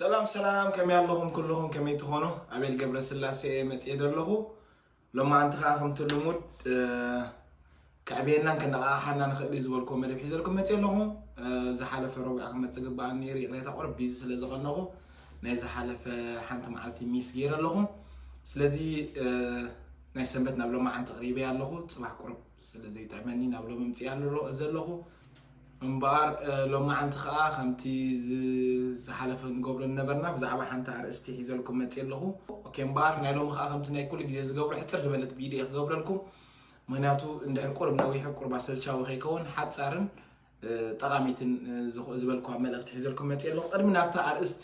ሰላም ሰላም ከመይ ኣለኹም ኩልኹም ከመይ ትኾኑ ኣቤል ገብረስላሴ እየ መፅኤ ዘለኹ ሎማዓንቲ ከዓ ከምቲ ልሙድ ከዕብየናን ከነቃቃሓና ንኽእል እዩ ዝበልኩዎ መደብ ሒዘልኩም መፅእ ኣለኹ ዝሓለፈ ረቡዕ ክመፅእ ግበኣኒ ነይሩ ይቕሬታ ቁርብ ቢዚ ስለ ዝቐነኹ ናይ ዝሓለፈ ሓንቲ መዓልቲ ሚስ ገይረ ኣለኹ ስለዚ ናይ ሰንበት ናብ ሎማዓንቲ ቅሪበ ኣለኹ ፅባሕ ቁርብ ስለ ዘይጥዕመኒ ናብ ሎሚ ምጽያ ዘለኹ እምበኣር ሎማዓንቲ ከዓ ከምቲ ዝሓለፈ ንገብሮ ነበርና ብዛዕባ ሓንቲ ኣርእስቲ ሒዘልኩም መፅ ኣለኹ ኦኬ እምበኣር ናይ ሎሚ ከዓ ከምቲ ናይ ኩሉ ግዜ ዝገብሮ ሕፅር ዝበለት ቪድዮ ክገብረልኩም ምክንያቱ እንድሕር ቁርብ ነዊሑ ቁርብ ኣሰልቻዊ ከይከውን ሓፃርን ጠቃሚትን ዝበልኳ መልእክቲ ሒዘልኩም መፅ ኣለኹ ቅድሚ ናብታ ኣርእስቲ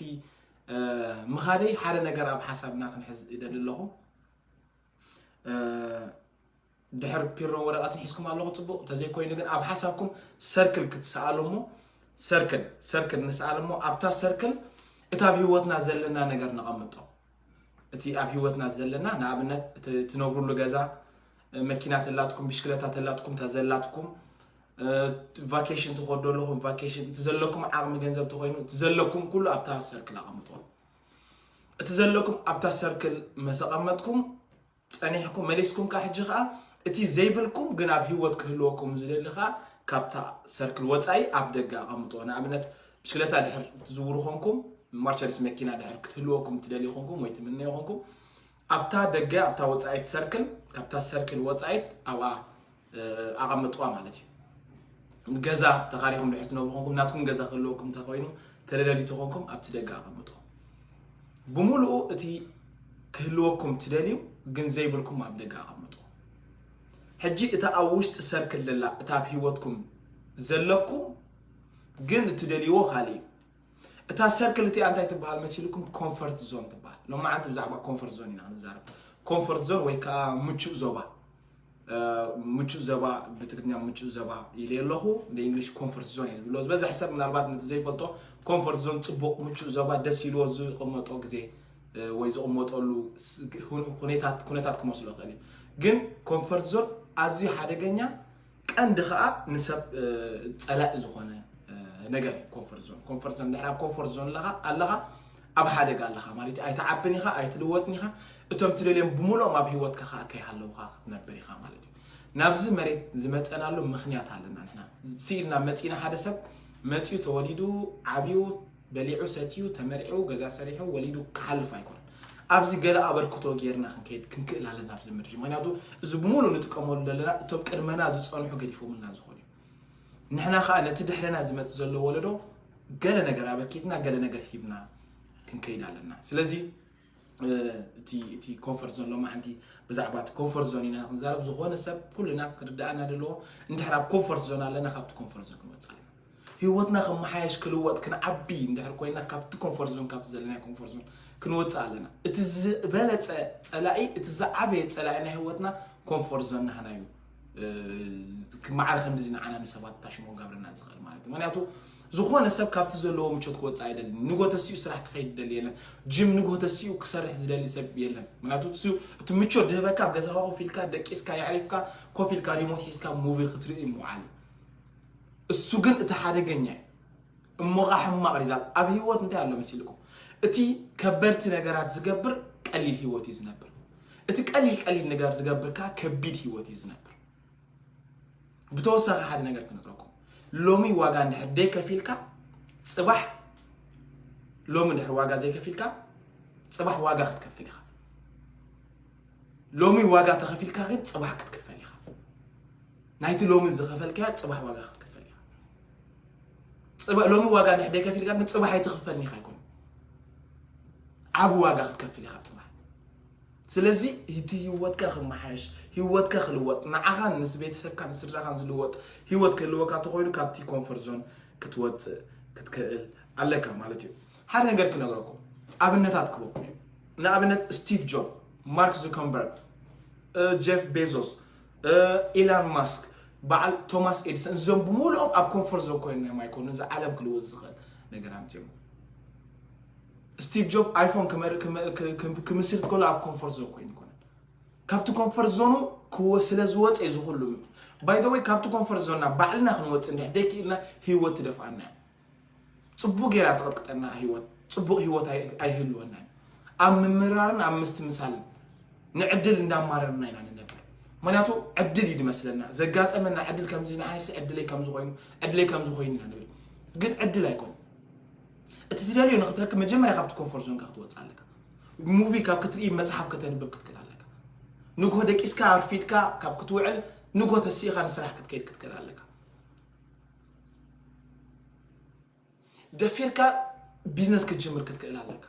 ምኻደይ ሓደ ነገር ኣብ ሓሳብና ክንሕዝ ይደሊ ኣለኹ ድሕር ፒሮ ወረቀትን ሒዝኩም ኣለኹ ፅቡቅ እንተዘይ ኮይኑ ግን ኣብ ሓሳብኩም ሰርክል ክትሰኣሉ እሞ ሰርክል ሰርክል ንስኣል እሞ ኣብታ ሰርክል እቲ ኣብ ሂወትና ዘለና ነገር ነቐምጦ እቲ ኣብ ሂወትና ዘለና ንኣብነት እቲ ትነብሩሉ ገዛ መኪና ተላትኩም ብሽክለታ ተላትኩም ተዘላትኩም ቫኬሽን ትኸዶ ኣለኹም ቫኬሽን እቲ ዘለኩም ዓቕሚ ገንዘብ ተኮይኑ እቲ ዘለኩም ኩሉ ኣብታ ሰርክል ኣቐምጦ እቲ ዘለኩም ኣብታ ሰርክል መሰቐመጥኩም ጸኒሕኩም መሊስኩም ከኣ ሕጂ ከኣ እቲ ዘይብልኩም ግን ኣብ ሂወት ክህልወኩም ዝደሊ ከኣ ካብታ ሰርክል ወጻኢ ኣብ ደገ ኣቐምጥዎ። ንኣብነት ብሽክለታ ድሕር ትዝውሩ ኮንኩም ማርቸዲስ መኪና ድሕር ክትህልወኩም ትደልዩ ኮንኩም ወይ ትምነዩ ኮንኩም ኣብታ ደገ ኣብታ ወጻኢት ሰርክል ካብታ ሰርክል ወጻኢት ኣብኣ ኣቐምጥዋ ማለት እዩ። ገዛ ተኻሪኹም ድሕር ትነብሩ ኮንኩም ናትኩም ገዛ ክህልወኩም እንተኮይኑ ተደለዩ ተኾንኩም ኣብቲ ደገ ኣቐምጦ ብምሉኡ እቲ ክህልወኩም ትደልዩ ግን ዘይብልኩም ኣብ ደገ ኣቐምጦ ሕጂ እታ ኣብ ውሽጢ ሰርክል ዘላ እታ ኣብ ሂወትኩም ዘለኩም ግን እትደልይዎ ካልእ እዩ እታ ሰርክል እቲኣ እንታይ ትበሃል መሲልኩም ኮንፈርት ዞን ትበሃል ሎማዓንቲ ብዛዕባ ኮንፈርት ዞን ኢና ንዛረብ ኮንፈርት ዞን ወይ ከዓ ምቹእ ዞባ ምቹእ ዘባ ብትግርኛ ምቹእ ዘባ ኢለ ኣለኹ ንእንግሊሽ ኮንፈርት ዞን እየ ዝብሎ ዝበዝሕ ሰብ ምናልባት ነቲ ዘይፈልጦ ኮንፈርት ዞን ፅቡቕ ምቹእ ዘባ ደስ ኢልዎ ዝቕመጦ ግዜ ወይ ዝቕመጠሉ ኩነታት ክመስሎ ይኽእል እዩ ግን ኮንፈርት ዞን ኣዝዩ ሓደገኛ ቀንዲ ከዓ ንሰብ ፀላኢ ዝኾነ ነገር እዩ ኮንፈርት ዞን ኮንፈርት ዞን ድሕር ኣብ ኮንፈርት ዞን ኣለኻ ኣብ ሓደጋ ኣለኻ ማለት እዩ ኣይትዓብን ኢኻ ኣይትልወጥን ኢኻ እቶም ትደልዮም ብምሉኦም ኣብ ሂወትካ ከዓ ከይሃለውካ ክትነብር ኢኻ ማለት እዩ ናብዚ መሬት ዝመፀናሉ ምክንያት ኣለና ንሕና ስኢልና መፂና ሓደ ሰብ መፂኡ ተወሊዱ ዓብዩ በሊዑ ሰትዩ ተመርዒዉ ገዛ ሰሪሑ ወሊዱ ክሓልፍ ኣይኮነን ኣብዚ ገለ ኣበርክቶ ጌርና ክንከይድ ክንክእል ኣለና ኣብዚ ምድሪ ምክንያቱ እዚ ብምሉእ ንጥቀመሉ ዘለና እቶም ቅድመና ዝፀንሑ ገዲፎምልና ዝኾኑ እዩ ንሕና ከዓ ነቲ ድሕረና ዝመፅ ዘሎ ወለዶ ገለ ነገር ኣበርኪትና ገለ ነገር ሂብና ክንከይድ ኣለና ስለዚ እቲ ኮንፈርት ዞን ሎማዓንቲ ብዛዕባ እቲ ኮንፈርት ዞን ኢና ክንዛረብ ዝኾነ ሰብ ኩልና ክርዳእና ዘለዎ እንድሕር ኣብ ኮንፈርት ዞን ኣለና ካብቲ ኮንፈርት ዞን ክንወፅእ ኣለና ህይወትና ከመሓየሽ ክልወጥ ክንዓቢ እንድሕር ኮይና ካብቲ ኮንፈርት ዞን ካብቲ ዘለና ኮንፈርት ዞን ክንወፅእ ኣለና እቲ ዝበለፀ ፀላኢ እቲ ዝዓበየ ፀላኢ ናይ ህይወትና ኮንፈርት ዞን ናህና እዩ ማዕረ ከምዚ ንዓና ንሰባት ታሽሞ ጋብረና ዝኽእል ማለት እዩ ምክንያቱ ዝኾነ ሰብ ካብቲ ዘለዎ ምቾት ክወፅእ ኣይደልን ንጎ ተሲኡ ስራሕ ክኸይድ ደሊ የለን ጅም ንጎ ተሲኡ ክሰርሕ ዝደሊ ሰብ የለን ምክንያቱ እቲ ምቾት ድህበካ ኣብ ገዛኻ ኮፍ ኢልካ ደቂስካ የዕሪፍካ ኮፍ ኢልካ ሪሞት ሒዝካ ሙቪ ክትርኢ ምውዓል እሱ ግን እቲ ሓደገኛ እዩ እሞ ኸዓ ሕማቕ ሪዛልት ኣብ ህይወት እንታይ ኣሎ መሲልኩም እቲ ከበድቲ ነገራት ዝገብር ቀሊል ህይወት እዩ ዝነብር እቲ ቀሊል ቀሊል ነገር ዝገብር ከኣ ከቢድ ሂወት እዩ ዝነብር። ብተወሳኺ ሓደ ነገር ክነግረኩም፣ ሎሚ ዋጋ እንድሕር ደይከፊልካ ጽባሕ ሎሚ እንድሕር ዋጋ ዘይከፊልካ ጽባሕ ዋጋ ክትከፍል ኢኻ። ሎሚ ዋጋ ተኸፊልካ ግን ጽባሕ ክትክፈል ኢኻ። ናይቲ ሎሚ ዝኸፈልካዮ ጽባሕ ዋጋ ክትክፈል ኢኻ። ጽባ- ሎሚ ዋጋ እንድሕር ደይከፊልካ ግን ጽባሕ ኣይትኽፈልኒ ኢኻ ኣይኮነ ዓቢ ዋጋ ክትከፍል ኢኻ ጽባሕ ስለዚ እቲ ሂወትካ ክመሓየሽ ሂወትካ ክልወጥ ንዓኻን ምስ ቤተሰብካን ስድራኻን ዝልወጥ ሂወት ክህልወካ ተኾይኑ ካብቲ ኮንፈርት ዞን ክትወጽእ ክትክእል ኣለካ ማለት እዩ ሓደ ነገር ክነግረኩም ኣብነታት ክበኩም እዩ ንኣብነት ስቲቭ ጆብ ማርክ ዙከንበርግ ጀፍ ቤዞስ ኢላን ማስክ በዓል ቶማስ ኤድሰን እዞም ብምሉኦም ኣብ ኮንፈርት ዞን ኮይኖም ኣይኮኑ እዚ ዓለም ክልወጥ ዝኽእል ነገር ኣምፅኦም ስቲቭ ጆብ ኣይፎን ክምስርት ከሎ ኣብ ኮንፎርት ዞን ኮይኑ ኣይኮነን ካብቲ ኮንፈርት ዞኑ ስለ ዝወፀ እዩ ዝኩሉ ባይ ዘ ወይ ካብቲ ኮንፈርት ዞንና ባዕልና ክንወፅእ እንድሕር ደይክኢልና ህይወት ትደፍኣና እዩ ፅቡቅ ጌራ ትቐጥቅጠና ህይወት ፅቡቅ ህይወት ኣይህልወናን ኣብ ምምራርን ኣብ ምስትምሳልን ንዕድል እንዳማረርና ኢና ንነብር ምክንያቱ ዕድል እዩ ዝመስለና ዘጋጠመና ዕድል ከምዚ ንዓይሲ ዕድለይ ከምዚ ኮይኑ ዕድለይ ከምዚ ኮይኑ ኢና ንብል ግን ዕድል ኣይኮነ እቲ ትደልዮ ንክትረክብ መጀመርያ ካብቲ ኮንፎርት ዞንካ ክትወፅእ ኣለካ ሙቪ ካብ ክትርኢ መፅሓፍ ከተንብብ ክትክእል ኣለካ ንግሆ ደቂስካ ኣርፊድካ ካብ ክትውዕል ንግሆ ተሲእኻ ንስራሕ ክትከይድ ክትክእል ኣለካ ደፊርካ ቢዝነስ ክትጅምር ክትክእል ኣለካ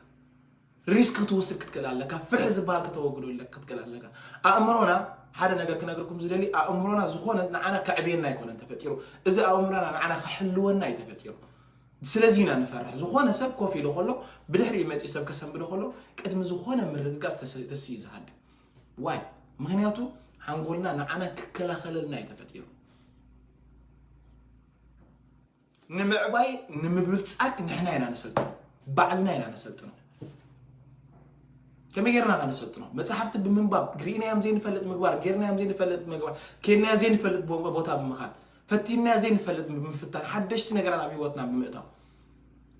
ሪስክ ክትወስድ ክትክእል ኣለካ፣ ፍርሒ ዝበሃል ከተወግዶ ኣለካ ክትክእል ኣለካ። ኣእምሮና ሓደ ነገር ክነግርኩም ዝደሊ ኣእምሮና ዝኾነ ንዓና ከዕብየና ኣይኮነን ተፈጢሩ፣ እዚ ኣእምሮና ንዓና ክሕልወና እዩ ተፈጢሩ። ስለዚ ኢና ንፈርሕ። ዝኾነ ሰብ ኮፍ ኢሉ ከሎ ብድሕሪኡ መፂኡ ሰብ ከሰንብዶ ከሎ ቅድሚ ዝኾነ ምርግጋፅ ተስ- ተስ እዩ ዝሃድም። ዋይ ምክንያቱ ሓንጎልና ንዓና ክከላኸለልና እዩ ተፈጢሩ። ንምዕባይ ንምብልፃግ ንሕና ኢና ነሰልጥኖ ባዕልና ኢና ነሰልጥኖ ከመይ ጌርና ኸ ነሰልጥኖ መፅሓፍቲ ብምንባብ ግሪእናዮም ዘይንፈልጥ ምግባር ጌርናዮም ዘይንፈልጥ ምግባር ኬድናዮ ዘይንፈልጥ ቦታ ብምኻድ ፈቲናዮ ዘይንፈልጥ ብምፍታን ሓደሽቲ ነገራት ኣብ ሂወትና ብምእታው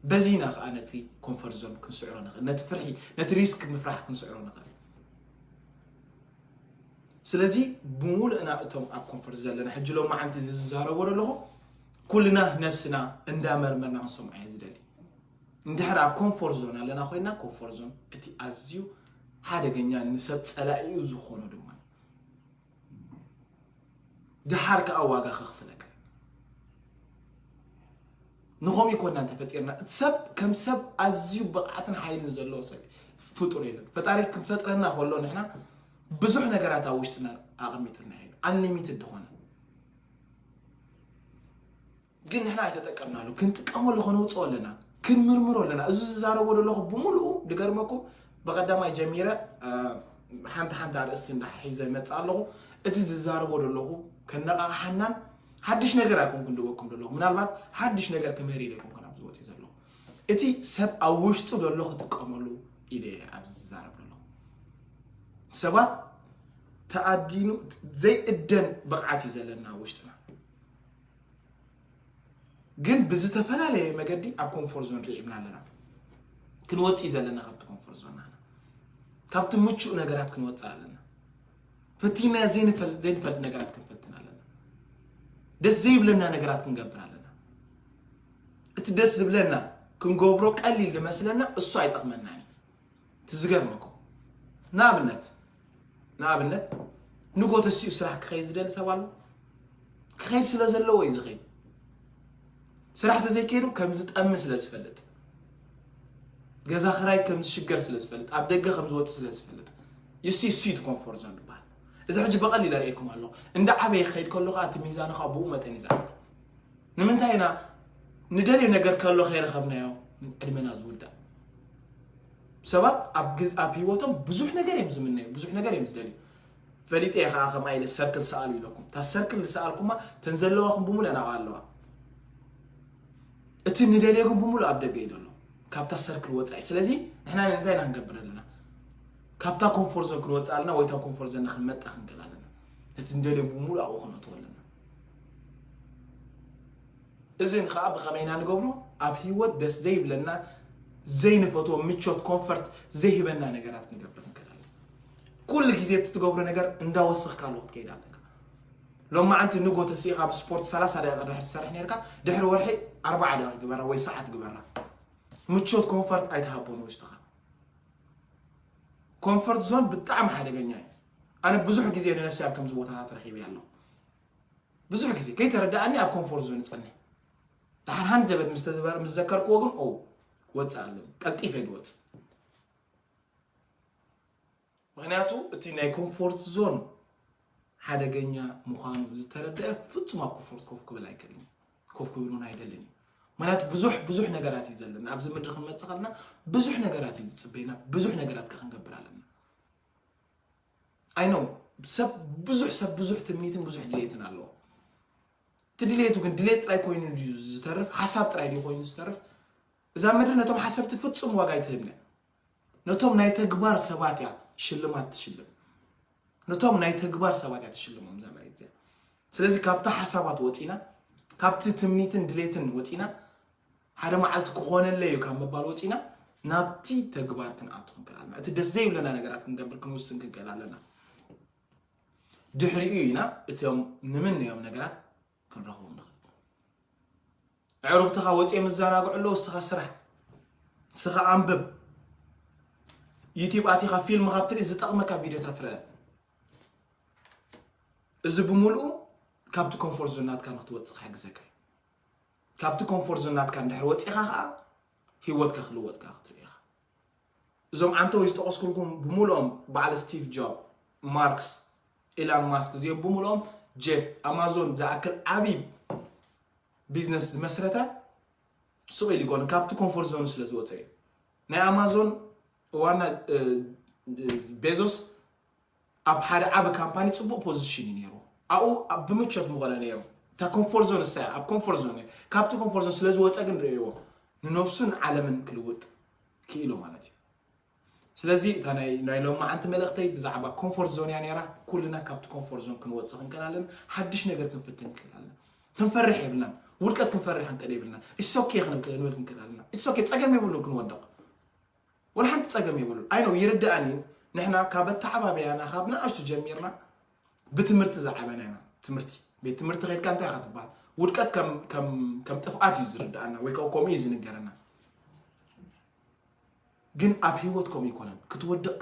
በዚ ኢና ከዓ ነቲ ኮንፈርት ዞን ክንስዕሮ ንኽእል ነቲ ፍርሒ ነቲ ሪስክ ምፍራሕ ክንስዕሮ ንኽእል ስለዚ ብምሉእና እቶም ኣብ ኮንፈርት ዘለና ሕጂ ሎማዓንቲ እዚ ዝዛረቦ ዘለኹ ኩልና ነብስና እንዳ መርመርና ክንሰምዖ እየ ዝደሊ እንድሕር ኣብ ኮንፎርት ዞን ኣለና ኮይና ኮንፎርት ዞን እቲ ኣዝዩ ሓደገኛ ንሰብ ጸላኢኡ ዝኾኑ ድማ ድሓር ከዓ ዋጋ ከኽፍለካ ንኸምኡ ይኮና እንተፈጢርና እቲ ሰብ ከም ሰብ ኣዝዩ ብቕዓትን ሓይልን ዘለዎ ሰብ ፍጡር የለን ፈጣሪ ክንፈጥረና ከሎ ንሕና ብዙሕ ነገራት ኣብ ውሽጥና ኣቐሚጥልና እዩ ኣንሊሚትድ ዝኾነ ግን ንሕና ኣይተጠቀምናሉ ክንጥቀመሉ ከነውፅኦ ኣለና ክንምርምሮ ኣለና እዚ ዝዛረቦ ዘለኹ ብምልኡ ድገርመኩም ብቀዳማይ ጀሚረ ሓንቲ ሓንቲ ኣርእስቲ እንዳሓሒዘ መፅእ ኣለኹ እቲ ዝዛረቦ ዘለኹ ከነቃቕሓናን ሓድሽ ነገር ኣይኮንኩን ድበኩም ዘለኹ ምናልባት ሓድሽ ነገር ክምህር ኢለ ኮንኩን ኣብዚ ወፅእ ዘለኹ እቲ ሰብ ኣብ ውሽጡ ዘሎ ክጥቀመሉ ኢለ ኣብዚ ዝዛረብ ዘለኹ ሰባት ተኣዲኑ ዘይእደን ብቕዓት እዩ ዘለና ኣብ ውሽጥና ግን ብዝተፈላለየ መገዲ ኣብ ኮንፎርት ዞን ርዒብና ኣለና ክንወፅ እዩ ዘለና ካብቲ ኮንፎርት ዞን ናና ካብቲ ምቹእ ነገራት ክንወፅእ ኣለና ፈቲና ዘይንፈልጥ ዘይንፈልጥ ነገራት ክንፈትን ኣለና ደስ ዘይብለና ነገራት ክንገብር ኣለና እቲ ደስ ዝብለና ክንገብሮ ቀሊል ዝመስለና እሱ ኣይጠቕመናን እዩ እቲ ዝገርመኩም ንኣብነት ንኣብነት ንጎ ተሲኡ ስራሕ ክኸይድ ዝደሊ ሰብ ኣሎ ክኸይድ ስለ ዘለዎ እዩ ዝኸይድ ስራሕ ተዘይከይዱ ከም ዝጠሚ ስለ ዝፈልጥ ገዛ ክራይ ከም ዝሽገር ስለ ዝፈልጥ ኣብ ደገ ከም ዝወፅ ስለ ዝፈልጥ ይሲ እሱ እዩ ኮንፎርት ዞን ዝበሃል እዚ ሕጂ ብቐሊል ኣርእየኩም ኣለኹ እንዳ ዓበየ ክኸይድ ከሎ ከዓ እቲ ሚዛኑ ከዓ ብኡ መጠን እዩ ዝዓቢ ንምንታይ ኢና ንደልዮ ነገር ከሎ ከይረኸብናዮ ዕድመና ዝውዳእ ሰባት ኣብ ሂወቶም ብዙሕ ነገር እዮም ዝምነዩ ብዙሕ ነገር እዮም ዝደልዩ ፈሊጠ እየ ከዓ ከምኣ ኢለ ሰርክል ሰኣሉ ኢለኩም እታ ሰርክል ዝሰኣልኩማ ተን ዘለዋኹም ብምሉእ ናብኣ ኣለዋ እቲ ንደልዮ ግን ብምሉእ ኣብ ደገ እዩ ዘሎ ካብታ ሰርክል ወፃኢ ስለዚ ንሕና እንታይ ኢና ክንገብር ኣለና ካብታ ኮንፎርት ዞን ክንወፅእ ኣለና ወይ እታ ኮንፎርት ዞንና ክንመጣ ክንክእል ኣለና እቲ ንደልዮ ብምሉእ ኣብኡ ክነእትዎ ኣለና እዚ ንኸኣ ብኸመይ ኢና ንገብሮ? ኣብ ህይወት ደስ ዘይብለና፣ ዘይንፈትዎ፣ ምቾት፣ comfort፣ ዘይህበና ነገራት ክንገብር ንክእል ኣለና። ኩሉ ግዜ እቲ ትገብሮ ነገር እንዳወሰኽካ ኣሎ ክትከይድ ኣለካ። ሎማዓንቲ ንጎ ተሲእኻ ብስፖርት 30 ደቂቕ ድሕሪ ትሰርሕ ነርካ፣ ድሕሪ ወርሒ 40 ደቂቕ ግበራ ወይ ሰዓት ግበራ። ምቾት ኮንፈርት ኣይትሃቦ ንውሽጥኻ። ኮንፈርት ዞን ብጣዕሚ ሓደገኛ እዩ። ኣነ ብዙሕ ግዜ ንነፍሲ ኣብ ከምዚ ቦታታት ረኺበ ኣለኹ። ብዙሕ ግዜ ከይተረድኣኒ ኣብ ኮንፎርት ዞን እጸንሕ ድሓር ሃንደበት ምስ ተዘበር ምስ ዘከርክዎ ግን ኦው ወጽእ ኣለኒ ቀልጢፈ ድወጽእ ምክንያቱ እቲ ናይ ኮንፎርት ዞን ሓደገኛ ምዃኑ ዝተረድአ ፍጹም ኣብ ኮንፎርት ኮፍ ክብል ኣይክእልን ኮፍ ክብል እውን ኣይደልን እዩ ምክንያቱ ብዙሕ ብዙሕ ነገራት እዩ ዘለና ኣብዚ ምድሪ ክንመፅእ ከለና ብዙሕ ነገራት እዩ ዝፅበይና ብዙሕ ነገራት ከ ክንገብር ኣለና ኣይ ኖው ሰብ ብዙሕ ሰብ ብዙሕ ትምኒትን ብዙሕ ድሌትን ኣለዎ እቲ ድሌቱ ግን ድሌት ጥራይ ኮይኑ ድዩ ዝተርፍ ሓሳብ ጥራይ ድዩ ኮይኑ ዝተርፍ እዛ ምድሪ ነቶም ሓሰብቲ ፍጹም ዋጋ ኣይትህብነ ነቶም ናይ ተግባር ሰባት እያ ሽልማት ትሽልም ነቶም ናይ ተግባር ሰባት እያ ትሽልሞም እዛ መሬት እዚኣ ስለዚ ካብቲ ሓሳባት ወፂና ካብቲ ትምኒትን ድሌትን ወፂና ሓደ መዓልቲ ክኾነለይ እዩ ካብ ምባል ወፂና ናብቲ ተግባር ክንኣቱ ክንክእል ኣለና እቲ ደስ ዘይብለና ነገራት ክንገብር ክንውስን ክንክእል ኣለና ድሕሪኡ ኢና እቶም ንምንዮም ነገራት ክንረኽቦም ንኽእል ዕሩኽትኻ ወፂኦም ይዘናግዑ ኣለዉ እስኻ ስራሕ እስኻ ኣንብብ ዩቲብ ኣቲኻ ፊልም ካብ ትርኢ ዝጠቕመካ ቪድዮታት ረአ እዚ ብምልኡ ካብቲ ኮንፎርት ዞን ናትካ ንክትወፅእ ክሕግዘካ እዩ ካብቲ ኮምፎርት ዞን ናትካ እንድሕር ወጺኻ ከኣ ሂወትካ ክልወጥ ከኣ ክትርኢ ኢኻ። እዞም ዓንተወይ ዝጠቐስኩልኩም ብምሉኦም በዓል ስቲቭ ጆብ፣ ማርክስ፣ ኢላን ማስክ እዚኦም ብምሉኦም ጄፍ ኣማዞን ዝኣክል ዓቢ ቢዝነስ ዝመስረተ ሱቕ ኢሉ ይኮነ ካብቲ ኮምፎርት ዞን ስለ ዝወጸ እዩ። ናይ ኣማዞን ዋና ቤዞስ ኣብ ሓደ ዓቢ ካምፓኒ ጽቡቕ ፖዝሽን እዩ ነይርዎ። ኣብኡ ብምቾት ምኾነ ነይሩ። እታ ኮምፎርት ዞን ንሳ እያ። ኣብ ኮምፎርት ዞን እዩ። ካብቲ ኮምፎርት ዞን ስለዝወጸ ግን ርእይዎ ንነብሱን ዓለምን ክልውጥ ክኢሉ ማለት እዩ። ስለዚ እታ ናይ ናይ ሎማዓንቲ መልእኽተይ ብዛዕባ ኮምፎርት ዞን እያ ነይራ። ኩልና ካብቲ ኮምፎርት ዞን ክንወጽእ ክንክእል ኣለና። ሓድሽ ነገር ክንፍትን ክንክእል ኣለና። ክንፈርሕ የብልናን። ውድቀት ክንፈርሕ ክንክእል የብልናን። ኢትስ ኦኬ ክንብል ክንክእል ኣለና። ኢትስ ኦኬ ጸገም የብሉን ክንወድቕ። ወላ ሓንቲ ጸገም የብሉን ኣይ ኖው ይርድኣኒ እዩ ንሕና ካብ ኣተዓባብያና ካብ ንኣሽቱ ጀሚርና ብትምህርቲ ዝዓበና ኢና ትምህርቲ ቤት ትምህርቲ ከድካ እንታይ ኢኻ ትበሃል ውድቀት ከም ጥፍኣት እዩ ዝርድኣና ወይ ከዓ ከምኡ እዩ ዝንገረና ግን ኣብ ህይወት ከምኡ ይኮነን ክትወድቕ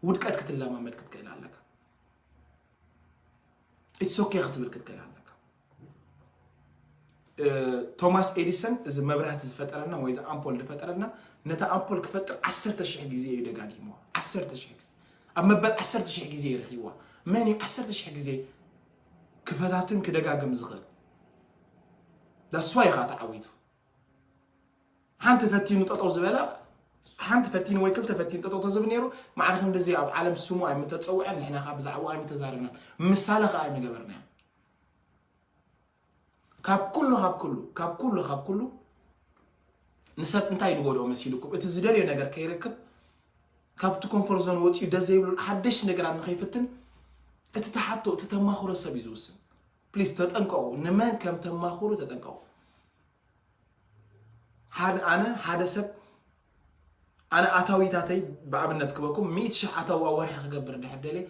ውድቀት ክትለማመድ ክትክእል ኣለካ ኢትሶኬ ክትብል ክትክእል ኣለካ ቶማስ ኤዲሰን እዚ መብራህቲ ዝፈጠረልና ወይ እዚ ኣምፖል ዝፈጠረልና ነቲ ኣምፖል ክፈጥር ዓሰርተ ሽሕ ግዜ እዩ ደጋጊምዋ ዓሰርተ ሽሕ ግዜ ኣብ መበል ዓሰርተ ሽሕ ግዜ ይረኪብዋ መን እዩ ዓሰርተ ሽሕ ግዜ ክፈታትን ክደጋግም ዝኽእል ዳስዋ ኢኻ ተዓዊቱ ሓንቲ ፈቲኑ ጠጠው ዝበላ ሓንቲ ፈቲኑ ወይ ክልተ ፈቲኑ ጠጠው ተዝብል ነይሩ ማዕረ ክንዲዚ ኣብ ዓለም ስሙ ኣይምተፀውዐን ንሕና ከዓ ብዛዕባ ኣይምተዛረብናን ምሳለ ከዓ ኣይምገበርናዮ ካብ ኩሉ ካብ ኩሉ ካብ ኩሉ ካብ ኩሉ ንሰብ እንታይ ዝጎድኦ መሲልኩም እቲ ዝደልዮ ነገር ከይረክብ ካብቲ ኮንፈርት ዞን ወፂኡ ደስ ዘይብሉ ሓደሽ ነገራት ንከይፍትን እቲ ተሓቶ እቲ ተማኽሮ ሰብ እዩ ዝውስን ፕሊስ ተጠንቀቑ ንመን ከም ተማኽሩ ተጠንቀቑ ኣነ ሓደ ሰብ ኣነ ኣታዊታተይ ብኣብነት ክበኩም ሚእቲ ሽሕ ኣታዊ ኣብ ወርሒ ክገብር ድሕር ደልየ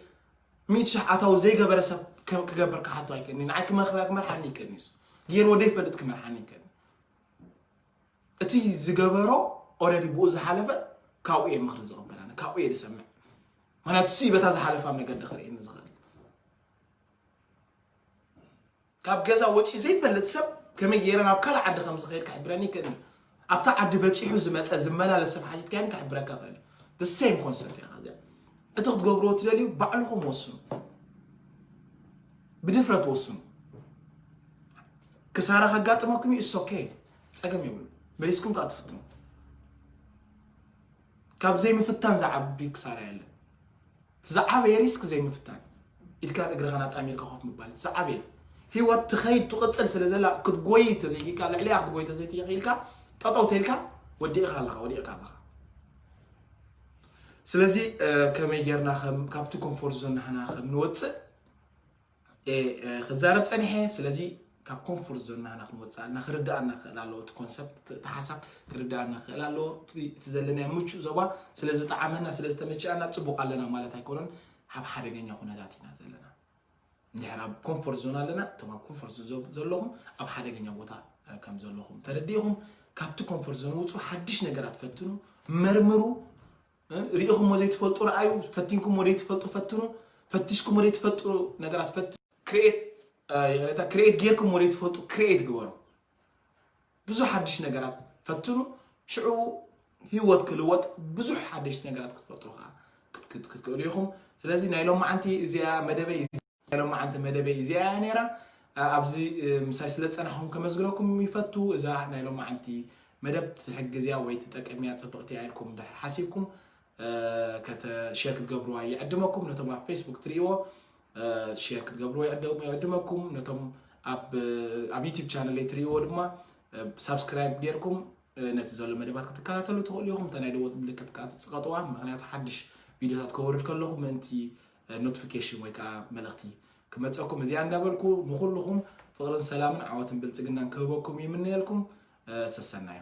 ሚእቲ ሽሕ ኣታዊ ዘይገበረ ሰብ ክገብር ክሓቶ ኣይክእኒ ንዓይ ክመርሓኒ ይክእኒ እሱ ገይርዎ ዘይፈልጥ ክመርሓኒ ይክእኒ እቲ ዝገበሮ ኦረዲ ብኡ ዝሓለፈ ካብኡ እየ ምክሪ ዝቕበል ኣነ ካብኡ እየ ዝሰምዕ ምክንያቱ ሲ በታ ዝሓለፋ መገዲ ክርእየኒ ዝኽእል ካብ ገዛ ወጺኡ ዘይፈልጥ ሰብ ከመይ ገይረ ናብ ካልእ ዓዲ ከም ዝኸይድ ክሕብረኒ ይክእል እዩ። ኣብታ ዓዲ በጺሑ ዝመጸ ዝመላለስ ሰብ ሓቲትካዮ ግን ክሕብረካ ይኽእል እዩ። the same concept ኢና ግን እቲ ክትገብርዎ ትደልዩ ባዕልኹም ወስኑ፣ ብድፍረት ወስኑ። ክሳራ ከጋጥመኩም እዩ እሶ ኦኬ ጸገም የብሉ መሊስኩም ከዓ ትፍትኑ። ካብ ዘይምፍታን ዝዓቢ ክሳራ የለን። እቲ ዝዓበየ ሪስክ ዘይምፍታን እዩ። ኢድካን እግርኻን ኣጣሚርካ ኮፍ ምባል እቲ ዝዓበየ እዩ። ህይወት ትኸይድ ትቕፅል ስለ ዘላ ክትጎይይ ተዘይክኢልካ ልዕሊኣ ክትጎይይ ተዘይክኢልካ ጠጠው ተይልካ ወዲቕኻ ኣለኻ ወዲቕካ ኣለኻ። ስለዚ ከመይ ጌርና ከም ካብቲ ኮምፎርት ዞን ንሕና ከም ንወፅእ እየ ክዛረብ ፀኒሐ ስለዚ ካብ ኮንፎርት ዞንና ኢና ክንወፅእ ኣለና ክርድኣና ክእል ኣለዎ እቲ ኮንሰፕት እቲ ሓሳብ ክርድኣና ክእል ኣለዎ እቲ ዘለናዮ ምቹእ ዞባ ስለ ዝጠዓመና ስለ ዝተመቸኣና ፅቡቅ ኣለና ማለት ኣይኮነን ኣብ ሓደገኛ ኩነታት ኢና ዘለና እንድሕር ኣብ ኮንፎርት ዞን ኣለና እቶም ኣብ ኮንፎርት ዞን ዘለኹም ኣብ ሓደገኛ ቦታ ከም ዘለኹም ተረዲእኹም ካብቲ ኮንፎርት ዞን ውፁ ሓድሽ ነገራት ፈትኑ መርምሩ ሪኢኹሞ ዘይትፈልጡ ረኣዩ፣ ፈቲንኩሞ ዘይትፈልጡ ፈትኑ፣ ፈቲሽኩሞ ዘይትፈልጡ ነገራት ፈትኑ፣ ክሬት ይቕሬታ ክሬት ጌርኩሞ ዘይትፈልጡ ክሬት ግበሩ። ብዙሕ ሓድሽ ነገራት ፈትኑ፣ ሽዑ ህይወት ክልወጥ ብዙሕ ሓደሽቲ ነገራት ክትፈጥሩ ከዓ ክትክእሉ ኢኹም። ስለዚ ናይ ሎማዓንቲ እዚኣ መደበይ ናይ ሎማዓንቲ መደበይ እዚኣ እያ ነይራ ኣብዚ ምሳይ ስለ ዝፀናሕኹም ከመስግነኩም ይፈቱ እዛ ናይ ሎማዓንቲ መደብ ትሕግዝ እያ ወይ ትጠቅም እያ ፅብቕቲ እያ ኢልኩም ድሕር ሓሲብኩም ሼር ክትገብርዋ ይዕድመኩም ነቶም ኣብ ፌስቡክ ትርእይዎ ሼር ክትገብርዎ ይዕድመኩም ነቶም ኣብ ዩቲብ ቻነለይ ትርእይዎ ድማ ሳብስክራይብ ጌርኩም ነቲ ዘሎ መደባት ክትከታተሉ ትኽእሉ ኢኹም እታ ናይ ደወት ምልክት ከዓ ትፅቐጥዋ ምክንያቱ ሓድሽ ቪድዮታት ከወርድ ከለኹ ምእንቲ ኖትፍኬሽን ወይ ከኣ መልእኽቲ ክመጸኩም እዚኣ እንዳበልኩ ንኹልኹም ፍቕርን ሰላምን ዓወትን ብልጽግናን ክህበኩም ይምነየልኩም ሰሰናዩ